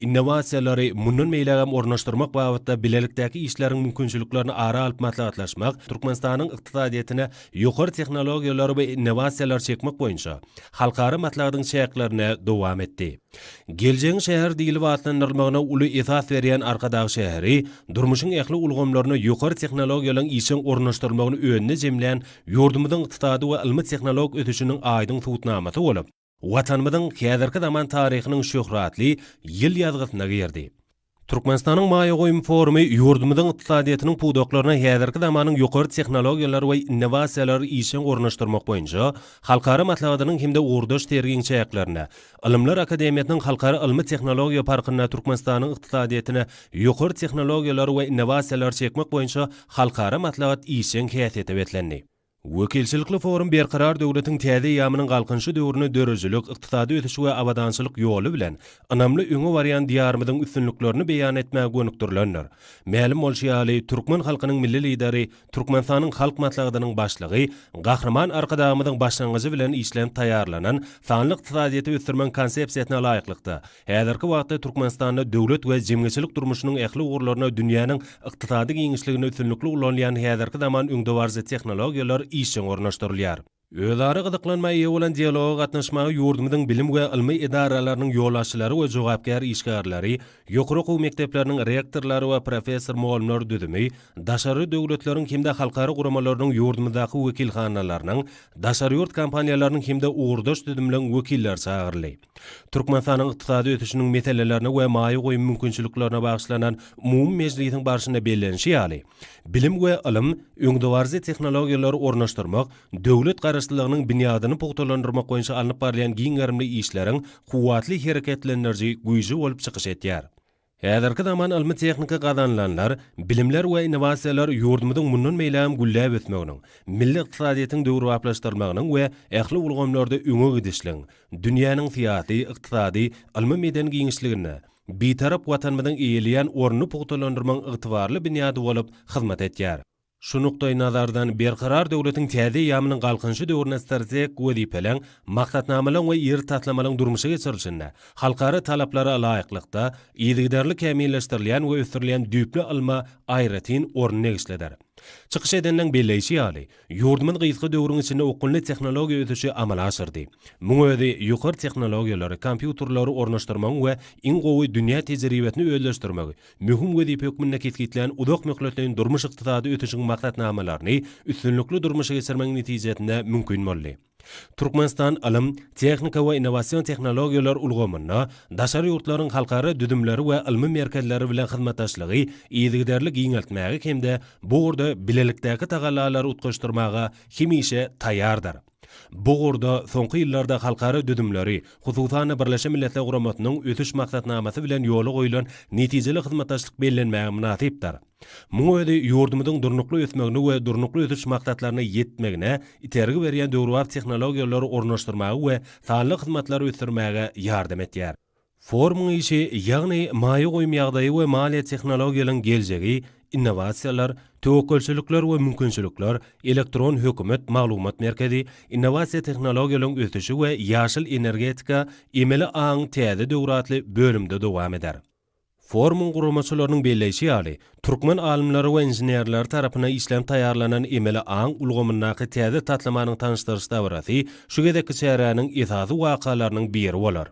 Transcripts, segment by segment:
Innowasiýalary mundan beýlägem ornaşdyrmak babatda bilelikdäki işleriň mümkinçiliklerini ara alyp maslahatlaşmak Türkmenistanyň ykdysadyýetine ýokary tehnologiýalary we innowasiýalary çekmek boýunça halkara maslahatyň çäklerinde dowam etdi. Geljegiň şäheri diýlip atlandyrylmagyna uly esas berýän Arkadag şäheri durmuşyň ähli ulgamlaryna ýokary tehnologiýalaryň işjeň ornaşdyrylmagyny özünde jemlän ýurdumyzyň ykdysady we ylmy-tehnologik ösüşiniň aýdyň subutnamasy bolup, Watanymyzyň häzirki zaman taryhynyň şöhratly ýyl ýazgysyna girdi. Türkmenistanyň maýa goýum forumy ýurdumyzyň ykdysadyýetiniň pudaklaryna häzirki zamanyň ýokary tehnologiýalary we innowasiýalary işjeň ornaşdyrmak boýunça halkara maslahatynyň hem-de ugurdaş sergiň çäklerinde Ylymlar akademiýasynyň Halkara ylmy-tehnologiýa parkynda Türkmenistanyň ykdysadyýetine ýokary tehnologiýalary we innowasiýalary çekmek boýunça halkara maslahat işjeň häsiýete beslendi. Wekilçilikli forum Berkarar döwletiň täze eýýamynyň Galkynyşy döwrüne döredijilik, ykdysady ösüş we abadançylyk ýoly bilen ynamly öňe barýan Diýarymyzyň üstünliklerini beýan etmäge gönükdirilendir. Mälim bolşy ýaly, türkmen halkynyň Milli Lideri, Türkmenistanyň Halk Maslahatynyň Başlygy Gahryman Arkadagymyzyň başlangyjy bilen işlenip taýýarlanan Sanly ykdysadyýeti ösdürmegiň Konsepsiýasyna laýyklykda, Häzirki wagtda Türkmenistanda döwlet we jemgyýetçilik durmuşynyň ähli ugurlaryna dünýäniň ykdysady giňişligini üstünlikli ulanýan häzirki zaman öňdebaryjy tehnologiýalar işjeň ornaşdyrylýar. Özara gyzyklanma eýe bolan dialoga gatnaşmaga ýurdumyzyň bilim we ylmy edaralarynyň ýolbaşçylary we jogapkär işgärleri, ýokary okuw mekdepleriniň rektorlary we professor-mugallymlar düzümi, daşary döwletleriň hem-de halkara guramalarynyň ýurdumyzdaky wekilhanalarynyň, daşary ýurt kompaniýalarynyň hem-de ugurdaş düzümleriň wekilleri çagyryldy. Türkmenistanyň ykdysady ösüşiniň meselelerine we maýa goýum mümkinçiliklerine bagyşlanan umumy mejlisiň barşynda bellenişi ýaly, bilim we ylym, öňdebaryjy tehnologiýalary ornaşdyrmak, döwlet garaşlylygynyň binýadyny pugtalandyrmak boýunça alnyp barylýan giň gerimli işleriň kuwwatly hereketlendiriji güýji bolup çykyş edýär. Häzirki zaman ylmy-tehniki gazanylanlar, bilimler we innowasiýalar ýurdumyzyň mundan beýlägem gülläp ösmeginiň, milli ykdysadyýetiň döwrebaplaşdyrylmagynyň we ähli ulgamlarda öňe gidişligiň, dünýäniň syýasy, ykdysady, ylmy-medeni giňişliginde Bitarap Watanymyzyň eýeleýän ornuny pugtalandyrmagyň ygtybarly binýady bolup hyzmat edýär. Şu nukdaýnazardan, Berkarar döwletiň täze eýýamynyň Galkynyşy döwründe strategik wezipeleriň, maksatnamalaryň we iri taslamalaryň durmuşa geçirilişinde halkara talaplara laýyklykda, yzygiderli kämilleşdirilýän we ösdürilýän düýpli ylma aýratyn orun degişlidir. Çykyş edeniň belleýşi ýaly, ýurdumyz gysga döwrüň içinde okgunly tehnologiýa ösüşi amala aşyrdy. Muň özi ýokary tehnologiýalary, kompýuterleri ornaşdyrmagyň we iň gowy dünýä tejribesini özleşdirmegi, möhüm wezipe hökmünde kesgitlän uzak möhletleýin durmuş-ykdysady ösüşiň maksatnamalaryny üstünlikli durmuşa geçirmegiň netijesinde mümkin boldy. Türkmenistan ylym, tehnika we innowasion tehnologiýalar ulgamynda daşary ýurtlaryň halkara düzümleri we ylmy merkezleri bilen hyzmatdaşlygy yzygiderli giňeltmäge hem-de bu ugurda bilelikdäki tagallalary utgaşdyrmaga hemişe taýýardyr. Bu ugurda soňky ýyllarda halkara düzümleri, hususan-da, Birleşen Milletler Guramasynyň Ösüş maksatnamasy bilen ýola goýlan netijeli hyzmatdaşlyk bellenmäge mynasypdyr. Muň özi ýurdumyzyň durnukly ösmegini we Durnukly ösüş maksatlaryna ýetmegine itergi berýän döwrebap tehnologiýalary ornaşdyrmaga we sanly hyzmatlary ösdürmäge ýardam edýär. Forumyň işi, ýagny maýa goýum ýagdaýy we maliýe tehnologiýalaryň geljegi, innowasiýalar, töwekgelçilikler we mümkinçilikler, elektron hökümet, maglumat merkezi, innowasiýa tehnologiýalaryň ösüşi we ýaşyl energetika, emeli aň täze döwri atly bölümde dowam eder. Forumyň guramaçylarynyň belleýşi ýaly, türkmen alymlary we inženerleri tarapyndan işlenip taýýarlanan emeli aň ulgamyndaky täze taslamanyň tanyşdyryş dabarasy şu gezekki çäräniň esasy wakalarynyň biri bolar.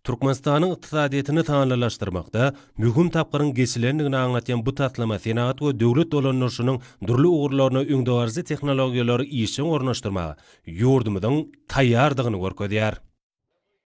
Türkmenistanyň ykdysadyýetini sanlylaşdyrmakda möhüm tapgyryň geçilendigini aňlatýan bu taslama senagat we döwlet dolandyryşynyň dürli ugurlaryna öňdebaryjy tehnologiýalary işjeň ornaşdyrmaga ýurdumyzyň taýýardygyny görkezýär.